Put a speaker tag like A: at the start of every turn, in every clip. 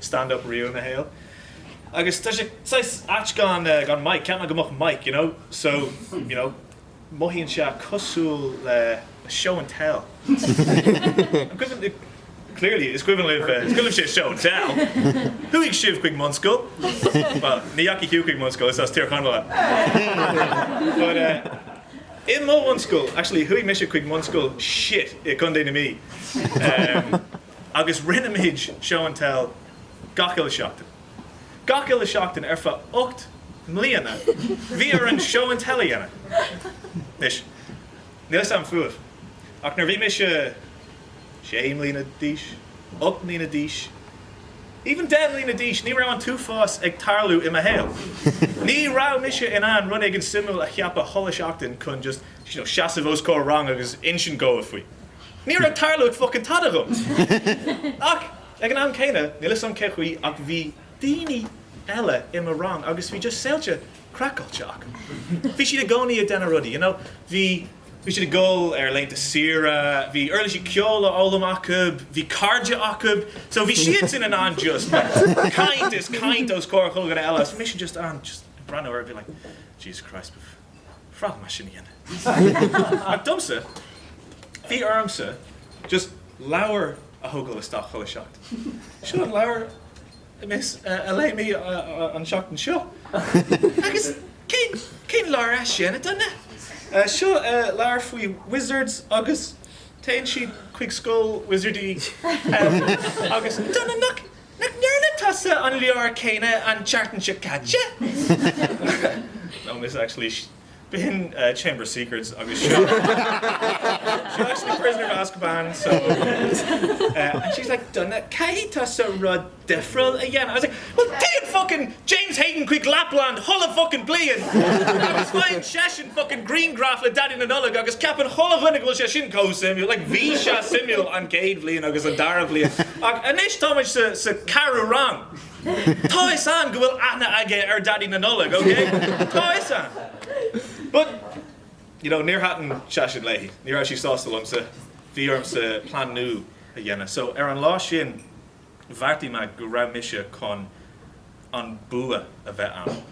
A: stand up riamh ina shaol agus tá sé saghas ait gan gan mic, cheap mé go mbeadh mic you know so you know mothaíonn sé cosúil le le show and tell an cuimhin libh clearly is cuimhin libh is cuimhin libh show and tell chuaigh sibh chuig mbunscoil well ní dheachaigh tú chuig mbunscoil is as Tír Chonaill thú but eh i mo bhunscoil actually chuaigh mise chuig mbunscoil shit i gContae na Mí eh agus rinne muid Show and Tell gach uile seachtain. Gach uile seachtain ar feadh ocht mbliana bhí orainn Show and Tell a dhéanamh. Anois, níl fhios agam fúibh, ach nuair a bhí mise sé mbliana d'aois, ocht mbliana d'aois, even deich mbliana d'aois, ní raibh an t-uafás ag tarlú i mo shaol. Ní raibh mise in ann rud éigin suimiúil a cheapadh chuile sheachtain chun just you know, seasamh os comhair rang agus insint dhóibh faoi. Ní raibh tarlú ag fuckin tada dhom! Ach, ag an am céanna, níl 'fhios a'm cé chaoi ach bhí daoine eile i mo rang agus bhí just saolta craiceáilte acu. Bhí siad i gcónaí ag déanamh rudaí, you know, bhí, bhí siad ag goil ar laethanta saoire, bhí uirlisí ceoil a fhoghlaim acu, bhí cairde acu, so bhí siadsan in ann just caint is caint os comhair chuile dhuine eile agus bhí mise just in ann just ag breathnú orthu being like, Jesus Christ, pfft. Ba bhreá liom é sin a dhéanamh. Ach domsa, bhí ormsa just leabhar a thógáil isteach chuile sheachtain. Seo an leabhar miss a léigh mé an tseachtain seo. Agus cén leabhar é sin a Dhonncha? Seo leabhar faoi wizards agus téann siad chuig scoil wizardaí agus Nach ndearna tusa an leabhar céanna an tseachtain seo caite? No miss actually b'shin Chamber of Secrets agus seo seo actually Prisoner of Azkaban so and she was like Donncha caithfidh tusa rud difriúil a dhéanamh I was like well téann fucking James Hayden chuig Lapland chuile focain bliain agus faigheann seisean focain griangraf le Daidí na Nollag agus ceapann chuile dhuine go bhfuil sé sin comh suimiúil, like bhí sé suimiúil an céad bhliain agus an dara bhliain ach anois tá muid sa sa ceathrú rang, tá 'fhios a'm go bhfuil aithne aige ar Daidí na Nollag, okay, tá 'fhios a'm but you know níor thaitin sé sin léi, ní raibh sí sásta liomsa, bhí ormsa plean nua a dhéanamh so ar an lá sin, bheartaigh mé go raibh mise chun an bua a bheith a'm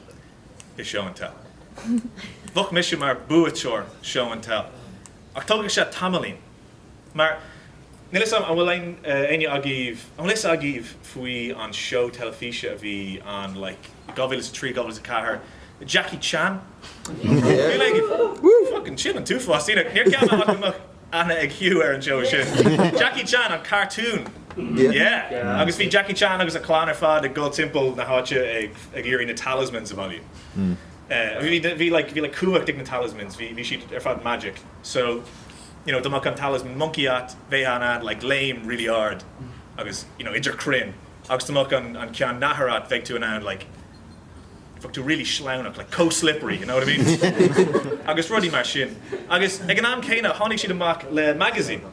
A: i Show and Tell. Bheadh mise mar buaiteoir Show and Tell. Ach tógfaidh sé tamaillín. Mar, níl 'fhios a'm, an bhfuil éinne agaibh, an bhfuil 'fhios agaibh faoi an seó teilifíse a bhí ann like, 2003, 2004, Jackie Chan? Éinne? Woo! Fuckin' sin an t-uafás daoine. Níor cheap mé go mbeadh. aithne ag Hugh ar an tseó sin. Jackie Chan an cartún! Yeah! Agus bhí Jackie Chan agus a chlann ar fad ag dul timpeall na háite ag iarraidh na talismans a bhailiú. Bhí like bhí like cumhacht ag na talismans, bhí bhí siad ar fad magic. So you know dá mbeadh an talisman moncaí a'at, bheifeá in ann like léim really ard agus you know idir crainn agus dá mbeadh an an ceann nathair a'at bheadh tú in ann like d'fhéadfadh tú really sleamhain a bheith like chomh slippery you know what I mean agus rudaí mar sin agus ag an am céanna tháinig siad amach le magazine